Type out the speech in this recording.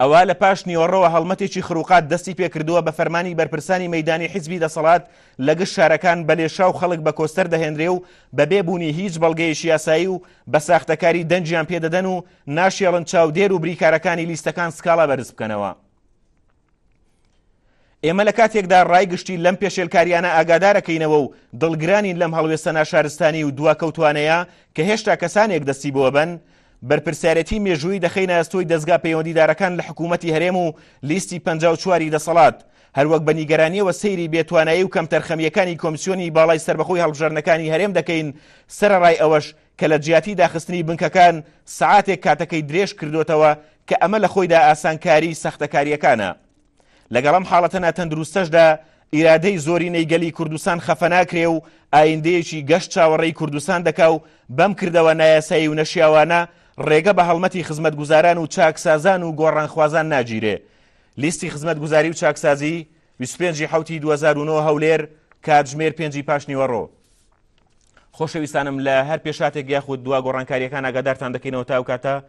ئەوا لە پاش نیوەڕۆوە هەڵمەتێکی خروقات دەستی پێکردووە بە فەرمانی بەرپرسانی مەدانی حیزبی دەسەڵات لە گشت شارەکان بە لێشا و خەڵک بە کۆستەر دەهێنرێ و بە بێبوونی هیچ بەڵگەیەکی یاسایی و بە ساختەکاری دەنگیان پێدەدەن و ناشێڵن چاودێر و بریکارەکانی لیستەکان سکاڵا بەرز بکەنەوە. ئێمە لە کاتێکدا ڕای گشتی لەم پێشێلکاریانە ئاگادارەکەینەوە و دڵگرانین لەم هەڵوێستە ناشارستانی و دواکەوتوانەیە کە هێشتا کەسانێک دەستی بۆ بن بەرپرسیارەتی مێژووی دەخینە ئەستۆی دەستگا پەیوەندیدارەکان لە حکوومەتتی هەرێم و لیستی پ چواری دەسەڵات هەروەک بە نیگەرانیەوە سەیری بێتوانایی و کەمتەرخەمیەکانی کۆمسیۆنی باڵای سربەخۆی هەڵبژەرنەکانی هەرێم دەکەین سەرڕای ئەوەش کە لە جیاتی داخستنی بنکەکان سەعاتێک کاتەکەی درێژ کردۆتەوە کە ئەمە لە خۆیدا ئاسانکاری سەختەکارییەکانە. لەگەڵ ئەم حاڵەتە ناتەندروستەشدا ئیرادەی زۆرینەی گەلی کوردستان خەفە ناکرێ و ئایندەیەکی گەش چاوەڕێی کوردستان دەکا و بەم کردەوە نایاسایی و نەشیاوانە ڕێگە بە هەڵمەتی خزمەتگوزاران و چاکسازان و گۆڕانخوازان ناگیرێ. لیستی خزمەتگوزاری و چاکسازی، 25 ی حەوتی 2009 هەولێر، کاتژمێر پێنجی پاشنیوەڕۆ. خۆشەویستانم لە هەر پێشاتێک یاخود دوا گۆڕانکاریەکان ئاگادارتان دەکەینەوە تاو کاتە